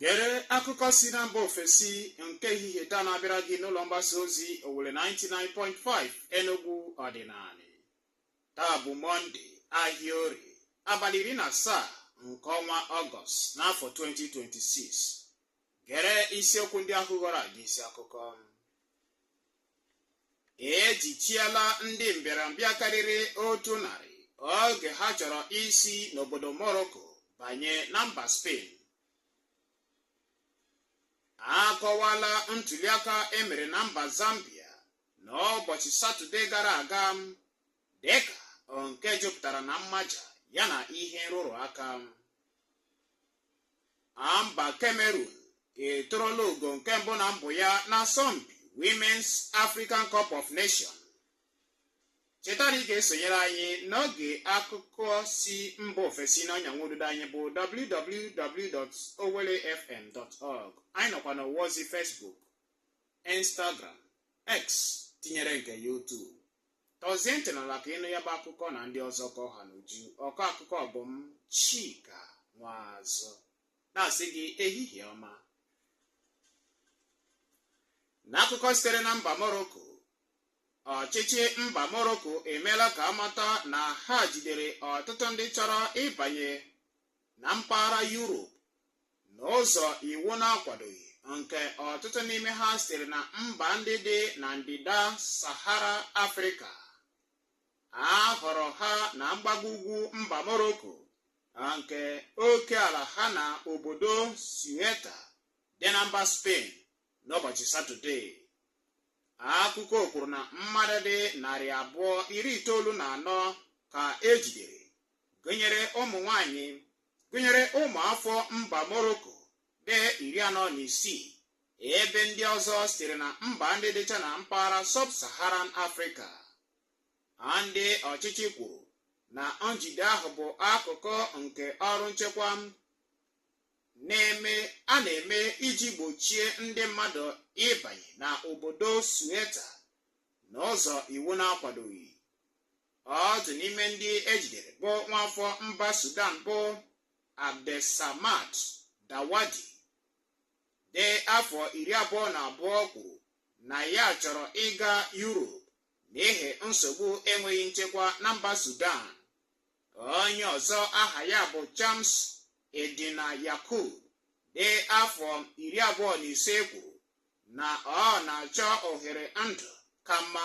gere akụkọ si na mba ofesi nke ehihie taa na-abịara gị n'ụlọ mgbasa ozi Owelle 99.5 Enugu ọdịnala taa bụ mọnde ahịa orie abalị iri na asaa nke ọnwa ọgọst n'afọ 2026 gere isiokwu ndị ahụ ghọrọ aga isi akụkọ ejichiela ndị mbịarambịa karịrị otu narị oge ha chọrọ isi n'obodo Morocco banye na mba Spain akọwala ntuliaka emere na mba Zambia n'ụbọchị Satọde gara aga dịka nke jupụtara na mmaja yana ihe nrụrụ aka mba Cameroon eturula ugo nke mbụ na mbụ ya n'asọmpi Women's African Cup of Nations cheta na ị ga-esonyere anyị n'oge akụkọ si mba ofesi n'ọnya nwa ududo anyị bụ www.owellefm.org anyị nọkwa n'ọwa ozi Facebook Instagram X tinyere nke YouTube tọzie ntị n'ala ka ịnụ ya bụ akụkọ na ndị ọzọ ka ọ ha n'uju ọkọ akụkọ bụ m chika nwazọ na-asị gị ehihie ọma n'akụkọ sitere na mba moroko ọchịchị mba moroko emeela ka a mata na ha jidere ọtụtụ ndị chọrọ ịbanye na mpaghara yurop n'ụzọ iwu na-akwadoghị nke ọtụtụ n'ime ha sitere na mba ndị dị na ndịda Sahara Afrịka a hụrụ ha na mgbago ugwu mba Morocco nke oke ala ha na obodo Ceuta dị na mba Spain n'ụbọchị Satọde akụkọ kwuru na mmadụ dị narị abụọ iri itoolu na anọ ka ejidere gụnyere ụmụ nwanyị gụnyere ụmụafọ mba Morocco dị iri anọ na isii ebe ndị ọzọ sitere na mba ndị dịcha na mpaghara sub-Saharan Afrịka ndị ọchịchị kwuru na njide ahụ bụ akụkụ nke ọrụ nchekwa na-eme a na-eme iji gbochie ndị mmadụ ịbanye na obodo Ceuta n'ụzọ iwu na-akwadoghị otu n'ime ndị ejidere bụ nwaafọ mba Sudan bụ Abdelsamad Dawadi dị afọ iri abụọ na abụọ kwuru na ya chọrọ ịga Europe n'ihi nsogbu enweghị nchekwa na mba Sudan onye ọzọ aha ya bụ Chams Eddine Yakub dị afọ iri abụọ na ise kwuru na ọ na-achọ ohere ndụ ka mma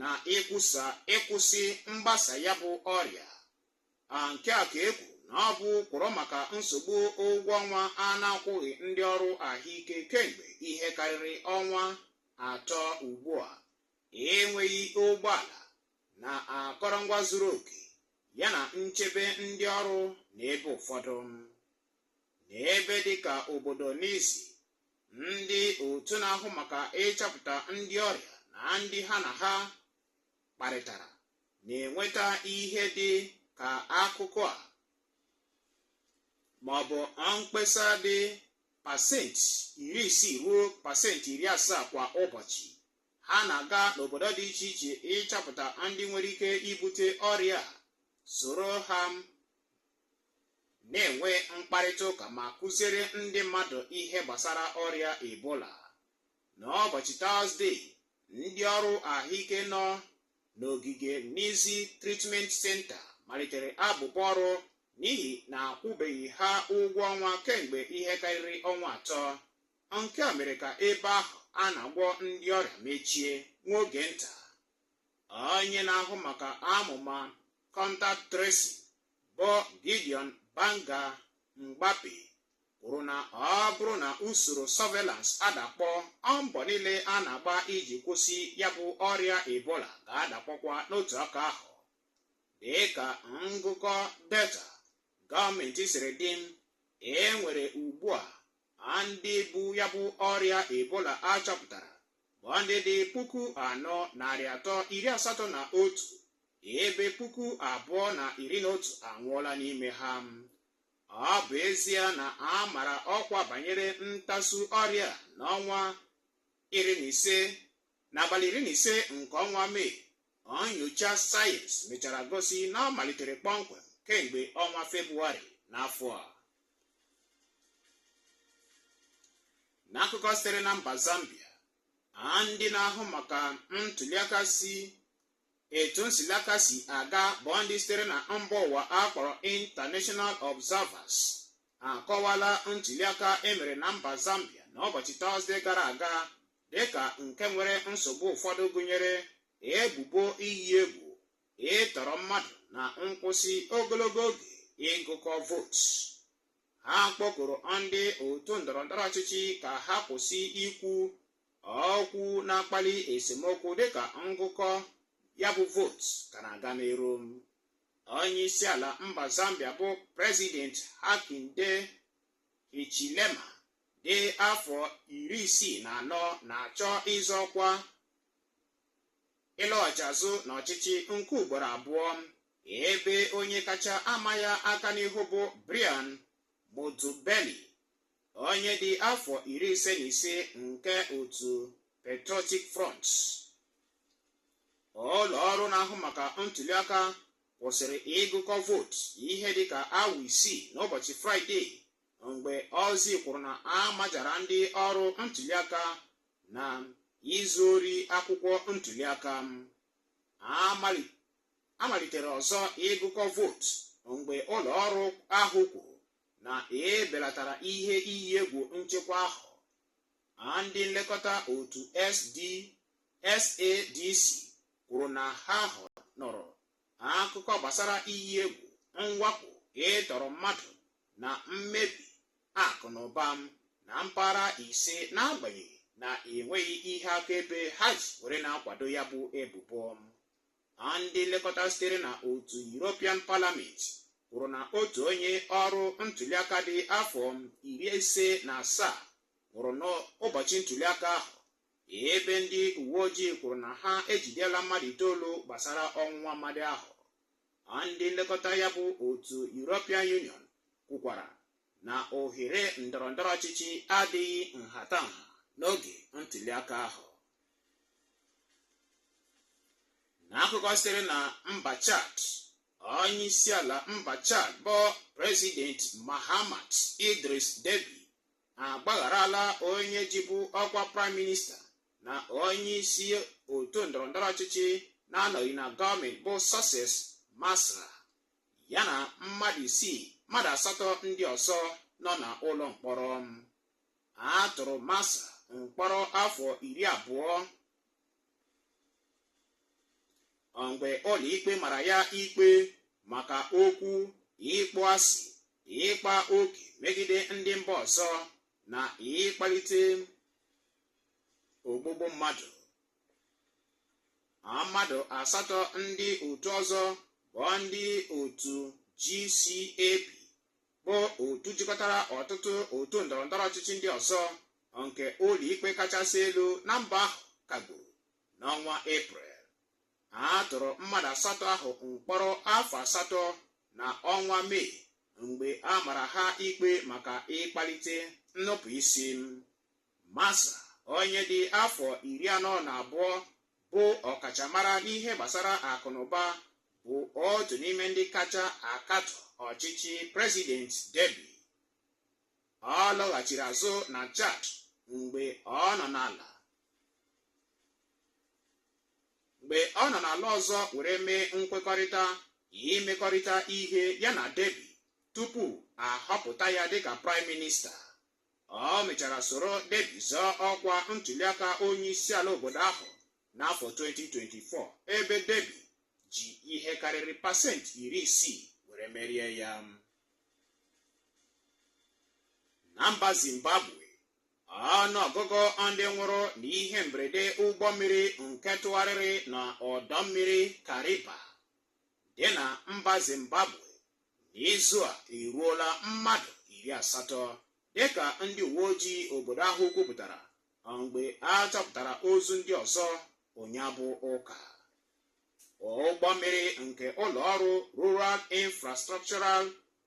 na ịkwụsị mgbasa ya bụ ọrịa a nke a ka e kwuru na ọ bụ kwọrọ maka nsogbu ụgwọ ọnwa a na-akwụghị ndị ọrụ ahụike kemgbe ihe karịrị ọnwa atọ ugbu a enweghị ụgbọala na akọrọngwa zuru oke yana nchebe ndị ọrụ n'ebe ụfọdụ n'ebe dịka obodo Nizi ndị otu na-ahụ maka ịchọpụta ndị ọrịa na ndị ha na ha kparịtara na-enweta ihe dị ka akụkọ a ma ọ bụ mkpesa dị pasenti iri isii ruo pasenti iri asaa kwa ụbọchị ha na-aga n'obodo dị iche iche ịchọpụta ndị nwere ike ibute ọrịa soro ha na-enwe mkparịta ụka ma kụziere ndị mmadụ ihe gbasara ọrịa ebola n'ụbọchị tọzdee ndị ọrụ ahụike nọ n'ogige Nizi Treatment Center malitere abụbọ ọrụ n'ihi na a kwụbeghị ha ụgwọ ọnwa kemgbe ihe karịrị ọnwa atọ nke a mere ka ebe ahụ a na-agwọ ndị ọrịa mechie nwa oge nta onye na-ahụ maka amụma contact tracing bụ Gideon Banga Mgbape kwuru na ọ bụrụ na usoro surveillance adakpọ mbọ niile a na-agba iji kwụsị ya bụ ọrịa Ebola ga-adakpọkwa n'otu aka ahụ dịka ngụkọ data gọọmenti siri dị e nwere ugbu a ndị bu ya bụ ọrịa Ebola a chọpụtara bụ ndị dị puku anọ narị atọ iri asatọ na otu ebe puku abụọ na iri na otu anwụọla n'ime ha ọ bụ ezie na a mara ọkwa banyere ntasu ọrịa n'ọnwa iri na ise n'abalị iri na ise nke ọnwa mee Nnyocha sayensị mechara gosi na ọ malitere kpọmkwem kemgbe ọnwa Febụwarị n'afọ a. N'akụkọ sitere na mba Zambia, a ndị na-ahụ maka ntuliaka si etu ntuliaka si aga bụ ndị sitere na mba ụwa a kpọrọ International Observers akọwala ntuliaka e mere na mba Zambia n'ụbọchị Tọzdee gara aga dịka nke nwere nsogbu ụfọdụ gụnyere ebubo iyi egwu ịtọrọ mmadụ na nkwụsị ogologo oge ịgụkọ vootu ha kpọkuru ndị otu ndọrọndọrọ ọchịchị ka ha kwụsị ikwu okwu na-akpali esemokwu dịka ngụkọ ya bụ vootu ka na-aga n'iru onye isi ala mba zambia bụ prezident hakainde hichilema dị afọ iri isii na anọ na-achọ ịzọ ọkwa ịlọghachi azụ n'ọchịchị nke ugboro abụọ ebe onye kacha ama ya aka n'ihu bụ Brian Mundubile onye dị afọ iri ise na ise nke otu Patriotic Front ụlọ ọrụ na-ahụ maka ntuliaka kwụsịrị ịgụkọ vootu ihe dịka awa isii n'ụbọchị fraịde mgbe ozi kwuru na a majara ndị ọrụ ntuliaka na izu ori akwụkwọ ntuliaka a malitere ọzọ ịgụkọ vootu mgbe ụlọ ọrụ ahụ kwuru na e belatara ihe iyi egwu nchekwa ahụ ndị nlekọta otu SADC kwuru na ha nụrụ akụkọ gbasara iyi egwu mwakpo ịtọrọ mmadụ na mmebi akụ na ụba na mpaghara ise n'agbanyeghị na enweghị ihe akaebe ha ji were na-akwado ya bụ ebubo ndị nlekọta sitere na otu European Parliament kwuru na otu onye ọrụ ntuliaka dị afọ iri ise na asaa nwụrụ n'ụbọchị ntuliaka ahụ ebe ndị uwe ojii kwuru na ha ejidela mmadụ itoolu gbasara ọnwụ nwa amadi ahụ ndị nlekọta ya bụ otu European Union kwukwara na ohere ndọrọ ndọrọ ọchịchị adịghị nhatanha n'oge ntụliaka ahụ n'akụkọ sitere na mba Chad onye isi ala mba Chad bụ President Mahamat Idriss Deby agbagharala onye jibu ọkwa praịm minista na onye isi otu ndọrọndọrọ ọchịchị na-anọghị na gọọmenti bụ Succès Masra ya na mmadụ isii mmadụ asatọ ndị ọzọ nọ na ụlọ mkpọrọ a tụrụ Masra mkpọrọ afọ iri abụọ mgbe ụlọikpe mara ya ikpe maka okwu ịkpọ asị ịkpa oke megide ndị mba ọzọ na ịkpalite ogbugbu mmadụ mmadụ asatọ ndị otu ọzọ bụ ndị otu GCAP bụ otu jikọtara ọtụtụ otu ndọrọndọrọ ọchịchị ndị ọzọ nke ụlọikpe kachasị elu na mba ahụ kagburu n'ọnwa eprel a tụrụ mmadụ asatọ ahụ mkpọrọ afọ asatọ na ọnwa mee mgbe a mara ha ikpe maka ịkpalite nnupụ isi Masra onye dị afọ iri anọ na abụọ bụ ọkachamara n'ihe gbasara akụnụba bụ otu n'ime ndị kacha akatọ ọchịchị President Deby Ọ lọghachiri azụ na Chad mgbe ọ nọ n'ala ọzọ were mee nkwekọrịta imekọrịta ihe ya na Deby tupu a họpụta ya dịka praịm minista ọ mechara soro Deby zọọ ọkwa ntuliaka onye isi ala obodo ahụ n'afọ 2024 ebe Deby ji ihe karịrị pasentị iri isii were merie ya na mba zimbabwe ọnụọgụgụ ndị nwụrụ n'ihe mberede ụgbọ mmiri nke tụgharịrị na ọdọ mmiri kariba dị na mba zimbabwe n'izu a eruola mmadụ iri asatọ dịka ndị uwe ojii obodo ahụ kwupụtara mgbe a chọpụtara ozu ndị ọzọ ụnyaa bụ ụka ụgbọ mmiri nke ụlọ ọrụ Rural Infrastructural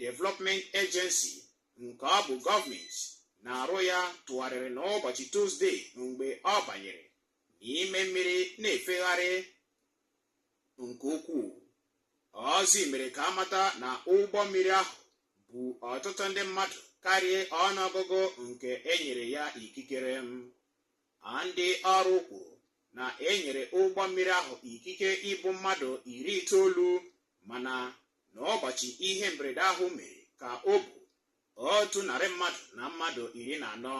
Development Agency nke ọ bụ gọọmenti na-arụ ya tụgharịrị n'ụbọchị Tuzdee mgbe ọ banyere n'ime mmiri na-efegharị nke ukwuu ozi mere ka a mata na ụgbọ mmiri ahụ bu ọtụtụ ndị mmadụ karịa ọnụọgụgụ nke e nyere ya ikikere m a ndị ọrụ kwuru na e nyere ụgbọ mmiri ahụ ikike ibu mmadụ iri itoolu mana n'ụbọchị ihe mberede ahụ mere ka o bu otu narị mmadụ na mmadụ iri na anọ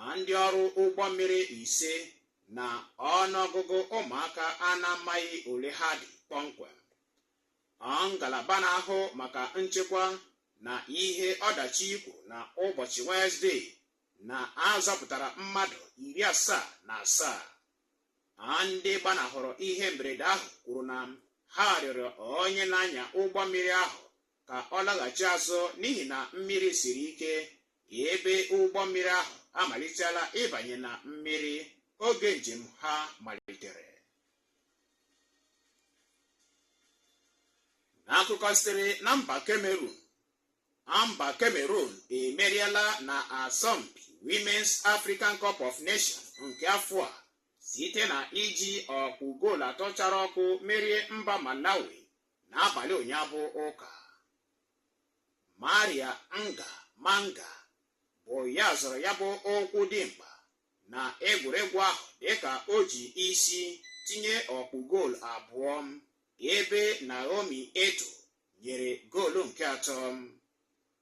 a ndị ọrụ ụgbọ mmiri ise na ọnụọgụgụ ụmụaka a na-amaghị ole ha dị kpọmkwem ọ ngalaba na-ahụ maka nchekwa na ihe ọdachi kwuru na ụbọchị Wenezdee na a zọpụtara mmadụ iri asaa na asaa a ndị gbanahụrụ ihe mberede ahụ kwuru na ha rịọrọ onye na-anya ụgbọ mmiri ahụ ka ọ laghachi azụ n'ihi na mmiri siri ike ebe ụgbọ mmiri ahụ amalitela ịbanye na mmiri oge njem ha malitere n'akụkọ sitere na mba Cameroon Mba Cameroon emeriela na asọmpi Women's African Cup of Nations nke afọ a site na iji ọkpụ goolu atọ chara ọkụ merie mba Malawi n'abalị ụnyaa bụ ụka Maria Ngah Manga bụ ya zọrọ ya bụ ụkwụ dị mkpa na egwuregwu ahụ dịka o ji isi tinye ọkpụ goolu abụọ ebe Naomi Eto nyere goolu nke atọ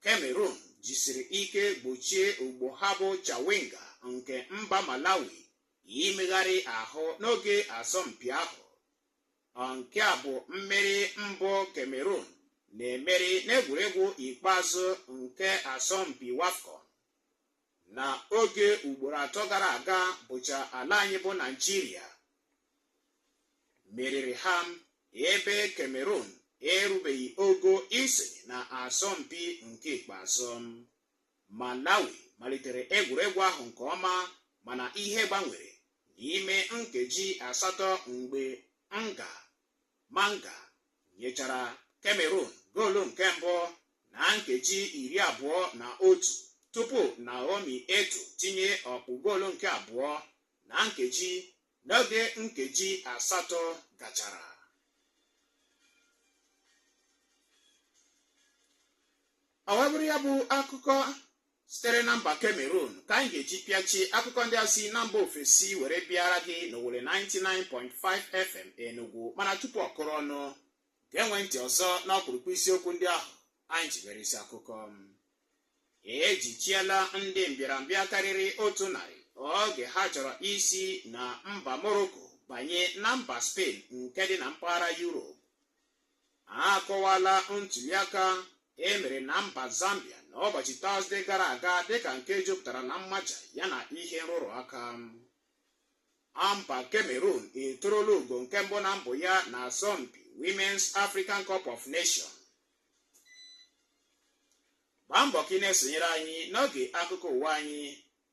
Cameroon jisiri ike gbochie ogbo ha bụ Chawinga nke mba Malawi imegharị ahụ n'oge asọmpi ahụ nke a bụ mmeri mbụ Cameroon na-emeri n'egwuregwu ikpeazụ nke asọmpi WAFCON na oge ugboro atọ gara aga bụcha ala anyị bụ Naịjirịa meriri ha ebe Cameroon erubeghị ogo isonye na asọmpi nke ikpeazụ Malawi malitere egwuregwu ahụ nke ọma mana ihe gbanwere n'ime nkeji asatọ mgbe Ngah Manga nyechara Cameroon goolu nke mbụ na nkeji iri abụọ na otu tupu Naomi Eto tinye ọkpụ goolu nke abụọ na nkeji n'oge nkeji asatọ gachara ọ wee bụrụ ya bụ akụkọ sitere na mba Cameroon ka anyị ga-eji pịachi akụkọ ndị a si na mba ofesi were bịara gị n'Owelle 99.5 FM Enugu mana tupu ọ kụrụ ọnụ ga-enwe ntị ọzọ n'ọkpụrụkpụ isiokwu ndị ahụ anyị ji mere isi akụkọ ejichiela ndị mbịarambịa karịrị otu narị oge ha chọrọ isi na mba Morocco banye na mba Spain nke dị na mpaghara Europe akọwala ntuliaka e mere na mba Zambia n'ụbọchị Tọzde gara aga dịka nke jupụtara na mmaja yana ihe nrụrụ aka mba Cameroon eturula ugo nke mbụ na mbụ ya na asọmpi Women's African Cup of Nations gbaa mbọ ka ị na-esonyere anyị n'oge akụkọ ụwa anyị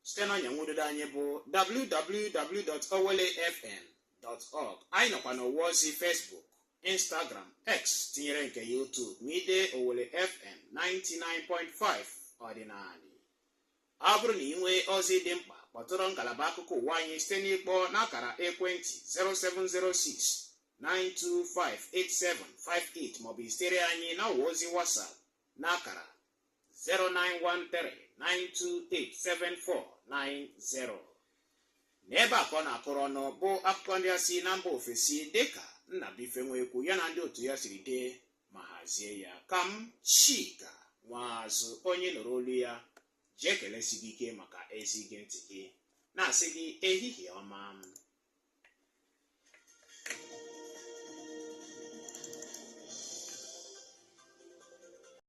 site na ọnya nwududo anyị bụ www.owellefm.org anyị nọkwa n'ọwa ozi Facebook Instagram X tinyere nke YouTube ma i dee Owelle FM 99.5 ọdịnanị ọ bụrụ na ị nwee ozi dị mkpa kpọtụrụ ngalaba akụkọ ụwa anyị site n'ịkpọ n'akara ekwentị 0706 9258758 maọbụ izitere anyị n'ọwa ozi WhatsApp n'akara 09139287490 n'ebe a ka ọ na-akụrụ ọnụ bụ akụkọ ndị a si na mba ofesi dịka Nnabuife Nwekwu ya na ndị otu ya siri dee ma hazie ya ka m Chika Nwaazụ onye nụrụ olu ya ji ekelesi gị ike maka ezi ige ntị gị na-asị gị ehihie ọma m